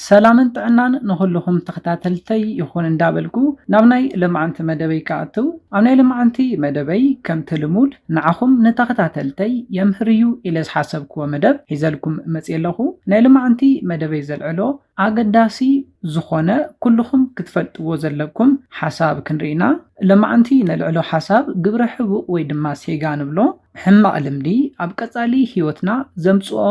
ሰላምን ጥዕናን ንኹልኹም ተኸታተልተይ ይኹን እንዳበልኩ ናብ ናይ ልምዓንቲ መደበይ ክኣትው ኣብ ናይ ልምዓንቲ መደበይ ከምቲ ልሙድ ንዓኹም ንተኸታተልተይ የምህር እዩ ኢለ ዝሓሰብክዎ መደብ ሒዘልኩም መፅየ ኣለኹ ናይ ልምዓንቲ መደበይ ዘልዕሎ ኣገዳሲ ዝኾነ ኩልኹም ክትፈልጥዎ ዘለኩም ሓሳብ ክንሪኢና ልምዓንቲ ነልዕሎ ሓሳብ ግብረ ሕቡእ ወይ ድማ ሴጋ ንብሎ ሕማቕ ልምዲ ኣብ ቀጻሊ ህይወትና ዘምጽኦ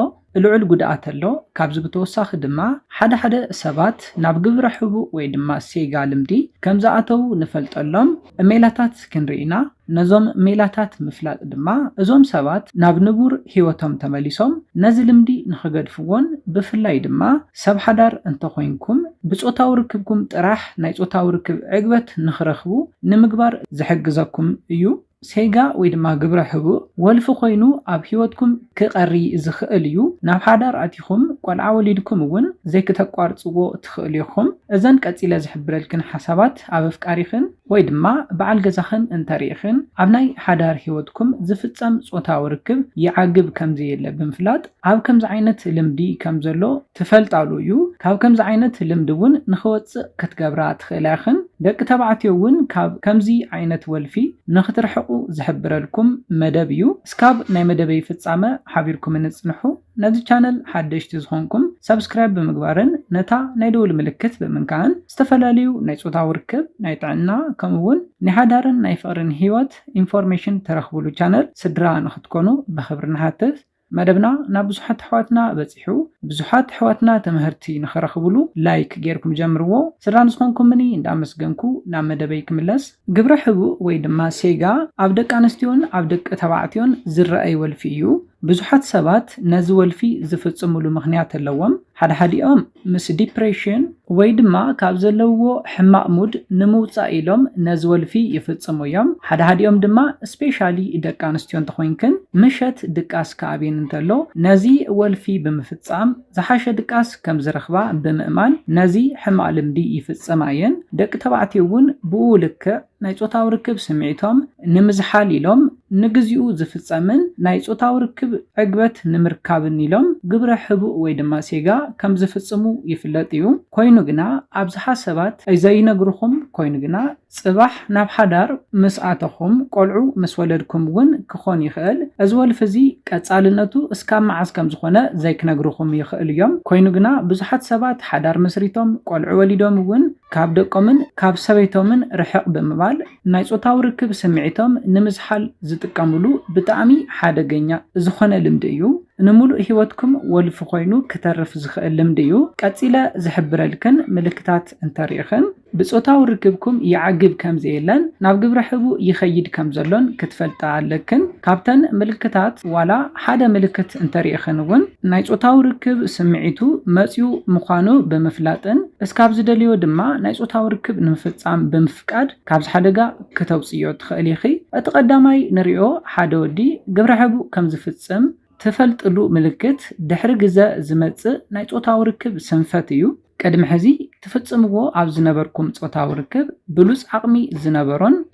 ልዑል ጉድኣት ኣሎ፣ ካብዚ ብተወሳኺ ድማ ሓደ ሓደ ሰባት ናብ ግብረ ሕቡእ ወይ ድማ ሴጋ ልምዲ ከም ዝኣተዉ ንፈልጠሎም ሜላታት ክንርኢ ኢና፣ ነዞም ሜላታት ምፍላጥ ድማ እዞም ሰባት ናብ ንቡር ህይወቶም ተመሊሶም ነዚ ልምዲ ንኽገድፍዎን ብፍላይ ድማ ሰብ ሓዳር እንተኾይንኩም ብጾታዊ ርክብኩም ጥራሕ ናይ ጾታዊ ርክብ ዕግበት ንኽረኽቡ ንምግባር ዝሕግዘኩም እዩ። ሴጋ ወይ ድማ ግብረ ሕቡእ ወልፊ ኮይኑ ኣብ ሂወትኩም ክቀሪ ዝክእል እዩ ናብ ሓዳር ኣቲኩም ቆልዓ ወሊድኩም እውን ዘይክተቋርጽዎ ትክእሉ ኢኩም እዘን ቀጺለ ዝሕብረልክን ሓሳባት ኣብ ኣፍቃሪክን ወይ ድማ በዓል ገዛክን እንተሪኢክን ኣብ ናይ ሓዳር ሂወትኩም ዝፍጸም ጾታዊ ርክብ ይዓግብ ከምዘየለ ብምፍላጥ ኣብ ከምዚ ዓይነት ልምዲ ከምዘሎ ትፈልጣሉ እዩ ካብ ከምዚ ዓይነት ልምዲ እውን ንክወፅእ ክትገብራ ትክእላ ኢክን ደቂ ተባዕትዮ እውን ካብ ከምዚ ዓይነት ወልፊ ንክትርሕቁ ዝሕብረልኩም መደብ እዩ እስካብ ናይ መደበይ ፍፃመ ሓቢርኩምኒ ፅንሑ ነዚ ቻነል ሓደሽቲ ዝኮንኩም ሳብስክራይብ ብምግባርን ነታ ናይ ደውል ምልክት ብምንካእን ዝተፈላለዩ ናይ ፆታዊ ርክብ ናይ ጥዕና ከምኡ እውን ናይ ሓዳርን ናይ ፍቅርን ሂወት ኢንፎርሜሽን ተረክቡሉ ቻነል ስድራ ንክትኮኑ ብክብሪ ንሓትት። መደብና ናብ ብዙሓት ኣሕዋትና በጺሑ ብዙሓት ኣሕዋትና ትምህርቲ ንኽረኽብሉ ላይክ ጌርኩም ጀምርዎ ስድራ ንዝኾንኩምኒ እንዳመስገንኩ ናብ መደበይ ክምለስ ግብረ ሕቡእ ወይ ድማ ሴጋ ኣብ ደቂ ኣንስትዮን ኣብ ደቂ ተባዕትዮን ዝረኣይ ወልፊ እዩ ብዙሓት ሰባት ነዚ ወልፊ ዝፍጽምሉ ምኽንያት ኣለዎም ሓድሓዲኦም ምስ ዲፕሬሽን ወይ ድማ ካብ ዘለውዎ ሕማቕ ሙድ ንምውጻእ ኢሎም ነዚ ወልፊ ይፍጽሙ እዮም። ሓድሓዲኦም ድማ ስፔሻሊ ደቂ ኣንስትዮ እንተኾይንክን ምሸት ድቃስ ክኣብየን እንተሎ ነዚ ወልፊ ብምፍጻም ዝሓሸ ድቃስ ከም ዝረኽባ ብምእማን ነዚ ሕማቕ ልምዲ ይፍጽማ እየን። ደቂ ተባዕትዮ እውን ብኡ ልክዕ። ናይ ጾታዊ ርክብ ስምዒቶም ንምዝሓል ኢሎም ንግዚኡ ዝፍጸምን ናይ ጾታዊ ርክብ ዕግበት ንምርካብን ኢሎም ግብረ ሕቡእ ወይ ድማ ሴጋ ከም ዝፍጽሙ ይፍለጥ እዩ ኮይኑ ግና ኣብዝሓ ሰባት ዘይነግሩኹም ኮይኑ ግና ጽባሕ ናብ ሓዳር ምስ ኣተኹም ቆልዑ ምስ ወለድኩም ውን ክኾን ይኽእል እዚ ወልፊ እዚ ቀጻልነቱ እስካብ መዓዝ ከም ዝኾነ ዘይክነግሩኹም ይኽእሉ እዮም ኮይኑ ግና ብዙሓት ሰባት ሓዳር መስሪቶም ቆልዑ ወሊዶም ውን ካብ ደቆምን ካብ ሰበይቶምን ርሕቕ ብምባል ናይ ጾታዊ ርክብ ስምዒቶም ንምዝሓል ዝጥቀምሉ ብጣዕሚ ሓደገኛ ዝኾነ ልምዲ እዩ። ንምሉእ ሂወትኩም ወልፊ ኮይኑ ክተርፍ ዝኽእል ልምዲ እዩ። ቀጺለ ዝሕብረልክን ምልክታት እንተሪእኽን ብጾታዊ ርክብኩም ይዓግብ ከምዘየለን ናብ ግብረ ሕቡእ ይኸይድ ከምዘሎን ክትፈልጣ ኣለክን። ካብተን ምልክታት ዋላ ሓደ ምልክት እንተርኢኽን እውን ናይ ፆታዊ ርክብ ስምዒቱ መፂኡ ምዃኑ ብምፍላጥን እስካብ ዝደልዮ ድማ ናይ ፆታዊ ርክብ ንምፍፃም ብምፍቃድ ካብዚ ሓደጋ ክተውፅእዮ ትኽእሊ ኢኺ። እቲ ቀዳማይ ንሪኦ ሓደ ወዲ ግብረ ሕቡእ ከም ዝፍፅም ትፈልጥሉ ምልክት ድሕሪ ግዘ ዝመፅእ ናይ ፆታዊ ርክብ ስንፈት እዩ። ቅድሚ ሕዚ ትፍፅምዎ ኣብ ዝነበርኩም ፆታዊ ርክብ ብሉፅ ዓቕሚ ዝነበሮን፣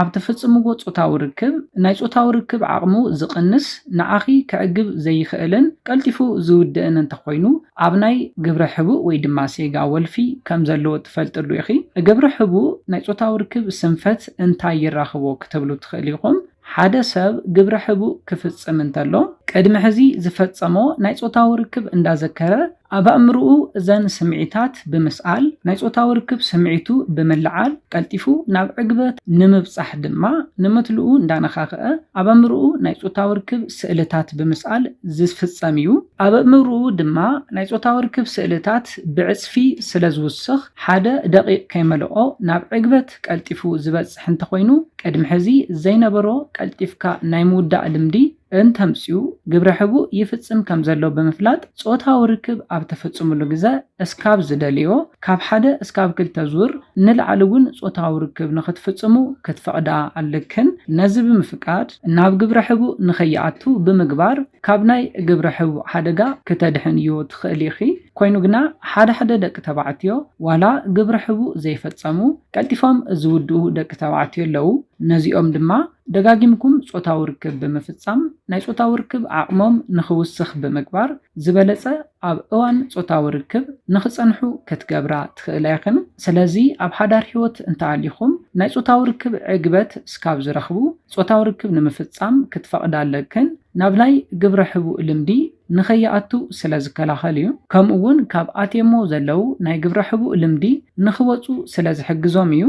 ኣብ ትፍጽምዎ ጾታዊ ርክብ፣ ናይ ጾታዊ ርክብ ዓቕሙ ዝቕንስ፣ ንዓኺ ከዕግብ ዘይኽእልን ቀልጢፉ ዝውድእን እንተኾይኑ፣ ኣብ ናይ ግብረ ሕቡእ ወይ ድማ ሴጋ ወልፊ ከም ዘለዎ ትፈልጥሉ ኢኺ። ግብረ ሕቡእ ናይ ጾታዊ ርክብ ስንፈት እንታይ ይራኽቦ ክትብሉ ትኽእሉ ኢኹም። ሓደ ሰብ ግብረ ሕቡእ ክፍጽም እንተሎ፣ ቅድሚ ሕዚ ዝፈጸሞ ናይ ጾታዊ ርክብ እንዳዘከረ ኣብ ኣእምሮኡ እዘን ስምዒታት ብምስኣል፣ ናይ ጾታዊ ርክብ ስምዒቱ ብምልዓል፣ ቀልጢፉ ናብ ዕግበት ንምብጻሕ ድማ ንመትልኡ እንዳነኻኽኣ ኣብ ኣእምሮኡ ናይ ጾታዊ ርክብ ስእልታት ብምስኣል ዝፍጸም እዩ። ኣብ ኣእምሮኡ ድማ ናይ ጾታዊ ርክብ ስእልታት ብዕጽፊ ስለ ዝውስኽ፣ ሓደ ደቒቕ ከይመልኦ ናብ ዕግበት ቀልጢፉ ዝበጽሕ እንተኾይኑ፣ ቅድሚ ሕዚ ዘይነበሮ ቀልጢፍካ ናይ ምውዳእ ልምዲ፣ እንተምጽኡ ግብረ ሕቡእ ይፍጽም ከም ዘሎ ብምፍላጥ ጾታዊ ርክብ ኣብ ተፈጽምሉ ግዘ እስካብ ዝደልዮ ካብ ሓደ እስካብ ክልተ ዙር ንላዕሊ እውን ጾታዊ ርክብ ንክትፍጽሙ ክትፈቕዳ ኣለክን። ነዚ ብምፍቃድ ናብ ግብረ ሕቡእ ንከይኣቱ ብምግባር ካብ ናይ ግብረ ሕቡእ ሓደጋ ክተድሕንዮ ትኽእሊ ኢኺ። ኮይኑ ግና ሓደ ሓደ ደቂ ተባዕትዮ ዋላ ግብረ ሕቡእ ዘይፈጸሙ ቀልጢፎም ዝውድኡ ደቂ ተባዕትዮ ኣለዉ። ነዚኦም ድማ። ደጋጊምኩም ጾታዊ ርክብ ብምፍጻም ናይ ጾታዊ ርክብ ዓቕሞም ንኽውስኽ ብምግባር ዝበለጸ ኣብ እዋን ጾታዊ ርክብ ንኽጸንሑ ክትገብራ ትኽእላ ኢኽን። ስለዚ ኣብ ሓዳር ህይወት እንተኣሊኹም ናይ ጾታዊ ርክብ ዕግበት እስካብ ዝረኽቡ ጾታዊ ርክብ ንምፍጻም ክትፈቕዳ ኣለክን ናብ ናይ ግብረ ሕቡእ ልምዲ ንኸይኣቱ ስለ ዝከላኸል እዩ ከምኡ እውን ካብ ኣትየሞ ዘለው ናይ ግብረ ሕቡእ ልምዲ ንኽወጹ ስለ ዝሕግዞም እዩ።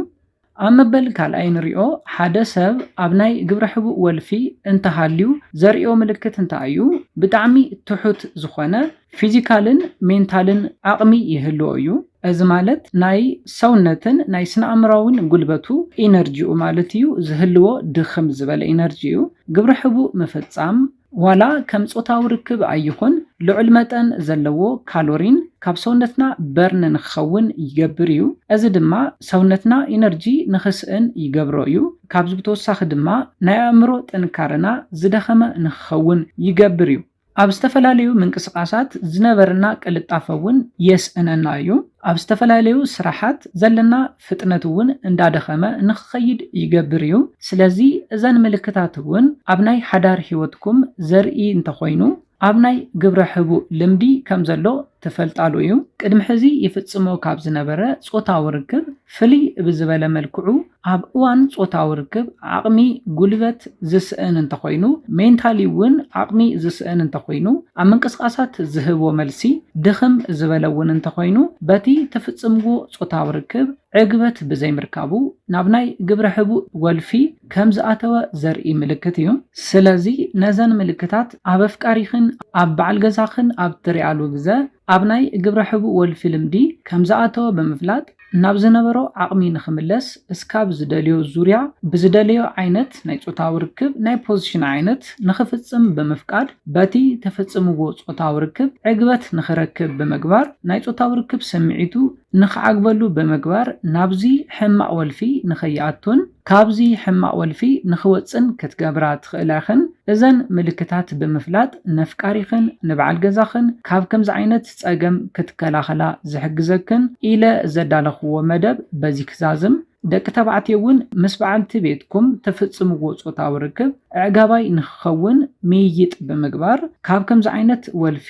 ኣብ መበል ካልኣይ ንሪኦ ሓደ ሰብ ኣብ ናይ ግብረ ሕቡእ ወልፊ እንተሃልዩ ዘርእዮ ምልክት እንታይ እዩ? ብጣዕሚ ትሑት ዝኾነ ፊዚካልን ሜንታልን ዓቕሚ ይህልዎ እዩ። እዚ ማለት ናይ ሰውነትን ናይ ስነኣእምሮኣዊን ጉልበቱ፣ ኢነርጂኡ፣ ማለት እዩ ዝህልዎ ድኽም ዝበለ ኢነርጂ እዩ። ግብረ ሕቡእ ምፍፃም ዋላ ከም ጾታዊ ርክብ ኣይኹን፣ ልዑል መጠን ዘለዎ ካሎሪን ካብ ሰውነትና በርን ንክኸውን ይገብር እዩ። እዚ ድማ ሰውነትና ኢነርጂ ንክስእን ይገብሮ እዩ። ካብዚ ብተወሳኺ ድማ ናይ ኣእምሮ ጥንካረና ዝደኸመ ንክኸውን ይገብር እዩ። ኣብ ዝተፈላለዩ ምንቅስቓሳት ዝነበረና ቅልጣፈ እውን የስእነና እዩ። ኣብ ዝተፈላለዩ ስራሓት ዘለና ፍጥነት እውን እንዳደኸመ ንክኸይድ ይገብር እዩ። ስለዚ እዘን ምልክታት እውን ኣብ ናይ ሓዳር ሕይወትኩም ዘርኢ እንተኾይኑ ኣብ ናይ ግብረ ሕቡእ ልምዲ ከም ዘሎ ትፈልጣሉ እዩ። ቅድሚ ሕዚ ይፍጽሞ ካብ ዝነበረ ጾታዊ ርክብ ፍልይ ብዝበለ መልክዑ ኣብ እዋን ጾታዊ ርክብ ዓቕሚ፣ ጉልበት፣ ዝስእን እንተኾይኑ፣ ሜንታሊ እውን ዓቕሚ ዝስእን እንተኾይኑ፣ ኣብ ምንቅስቓሳት ዝህቦ መልሲ ድኽም ዝበለ እውን እንተኾይኑ በቲ ትፍጽምዎ ጾታዊ ርክብ ዕግበት ብዘይምርካቡ ናብ ናይ ግብረ ሕቡእ ወልፊ ከም ዝኣተወ ዘርኢ ምልክት እዩ። ስለዚ ነዘን ምልክታት ኣብ ኣፍቃሪኽን ኣብ በዓል ገዛኽን ኣብ እትሪኣሉ ግዘ ኣብ ናይ ግብረ ሕቡእ ወልፊ ልምዲ ከም ዝኣተወ ብምፍላጥ ናብ ዝነበሮ ዓቕሚ ንኽምለስ እስካብ ዝደልዮ ዙርያ ብዝደለዮ ዓይነት ናይ ጾታዊ ርክብ ናይ ፖዚሽን ዓይነት ንኽፍጽም ብምፍቃድ፣ በቲ ተፈጽምዎ ጾታዊ ርክብ ዕግበት ንኽረክብ ብምግባር፣ ናይ ጾታዊ ርክብ ስምዒቱ ንኽዓግበሉ ብምግባር ናብዚ ሕማቕ ወልፊ ንኸይኣቱን ካብዚ ሕማቕ ወልፊ ንኽወጽእን ክትገብራ ትኽእላ ኢኽን። እዘን ምልክታት ብምፍላጥ ነፍቃሪኽን ንበዓል ገዛኽን ካብ ከምዚ ዓይነት ጸገም ክትከላኸላ ዝሕግዘክን ኢለ ዘዳለኹዎ መደብ በዚ ክዛዝም። ደቂ ተባዕትዮ እውን ምስ በዓልቲ ቤትኩም ትፍጽምዎ ጾታዊ ርክብ ኣዕጋባይ ንኽኸውን ምይይጥ ብምግባር ካብ ከምዚ ዓይነት ወልፊ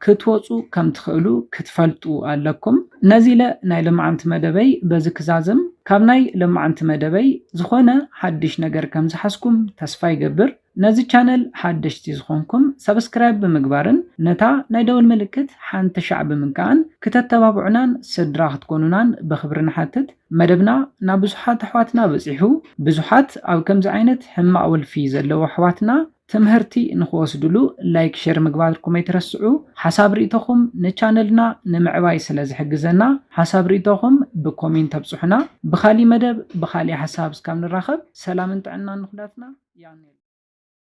ክትወጹ ከም ትኽእሉ ክትፈልጡ ኣለኩም። ነዚለ ናይ ለማዓንቲ መደበይ በዚ ክዛዝም ካብ ናይ ለማዓንቲ መደበይ ዝኾነ ሓድሽ ነገር ከም ዝሓዝኩም ተስፋ ይገብር። ነዚ ቻነል ሓደሽቲ ዝኾንኩም ሳብስክራይብ ብምግባርን ነታ ናይ ደወል ምልክት ሓንቲ ሻዕ ብምንካእን ክተተባብዑናን ስድራ ክትኮኑናን ብኽብሪ ንሓትት መደብና ናብ ብዙሓት ኣሕዋትና በጺሑ ብዙሓት ኣብ ከምዚ ዓይነት ሕማቅ ወልፊ ዘለዉ ኣሕዋትና ትምህርቲ ንኽወስድሉ ላይክ ሸር ምግባርኩም ኣይትረስዑ ሓሳብ ሪኢቶኹም ንቻነልና ንምዕባይ ስለ ዝሕግዘና ሓሳብ ሪኢቶኹም ብኮሜንት ኣብፁሑና ብኻሊእ መደብ ብኻሊእ ሓሳብ እስካብ ንራኸብ ሰላምን ጥዕናን ንኹላትና ያኔል።